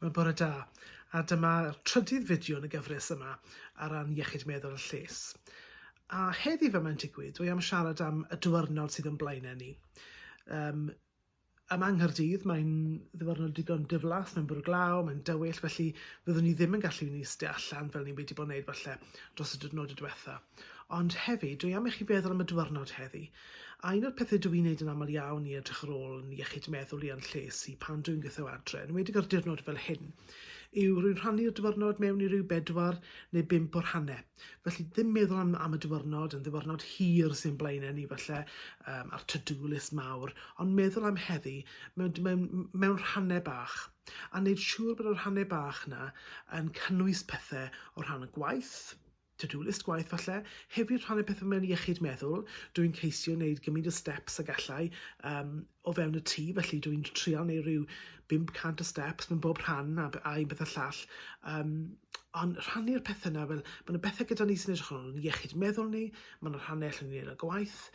Wel bore da, a dyma'r trydydd fideo yn y gyfres yma ar ran iechyd meddwl a lles. A heddi fe mae'n digwydd, dwi am siarad am y diwrnod sydd yn blaenau ni. Um, yma yng Nghaerdydd mae'n ddiwrnod digon diflas, mae'n bwrw glaw, mae'n dywyll, felly fyddwn ni ddim yn gallu ni sti allan fel ni wedi bod wneud falle dros y diwrnod y diwetha. Ond hefyd, dwi am i chi feddwl am y diwrnod heddi. A un o'r pethau dw i'n neud yn aml iawn i edrych ar ôl yn iechyd meddwl i a'n lles i pan dwi'n gweithio adre, yn wedig ar diwrnod fel hyn, yw rwy'n rhannu'r diwrnod mewn i ryw bedwar neu bump o rhannau. Felly ddim meddwl am, am y diwrnod, yn ddiwrnod hir sy'n blaenau ni falle, um, a'r to-do list mawr, ond meddwl am heddi mewn, mewn, mewn rhannau bach, a wneud siŵr bod y rhannau bach yna yn cynnwys pethau o rhan y gwaith, to-do list gwaith falle, hefyd rhannu pethau mewn iechyd meddwl, dw i'n ceisio wneud gymryd y steps a gallai um, o fewn y tŷ, felly dw i'n trial neu rhyw 500 o steps mewn bob rhan a, a un beth y llall. Um, ond rhannu'r pethau yna, fel, mae yna bethau gyda ni sy'n edrych ar ôl iechyd meddwl ni, mae yna rhannau allan ni'n ei gwaith,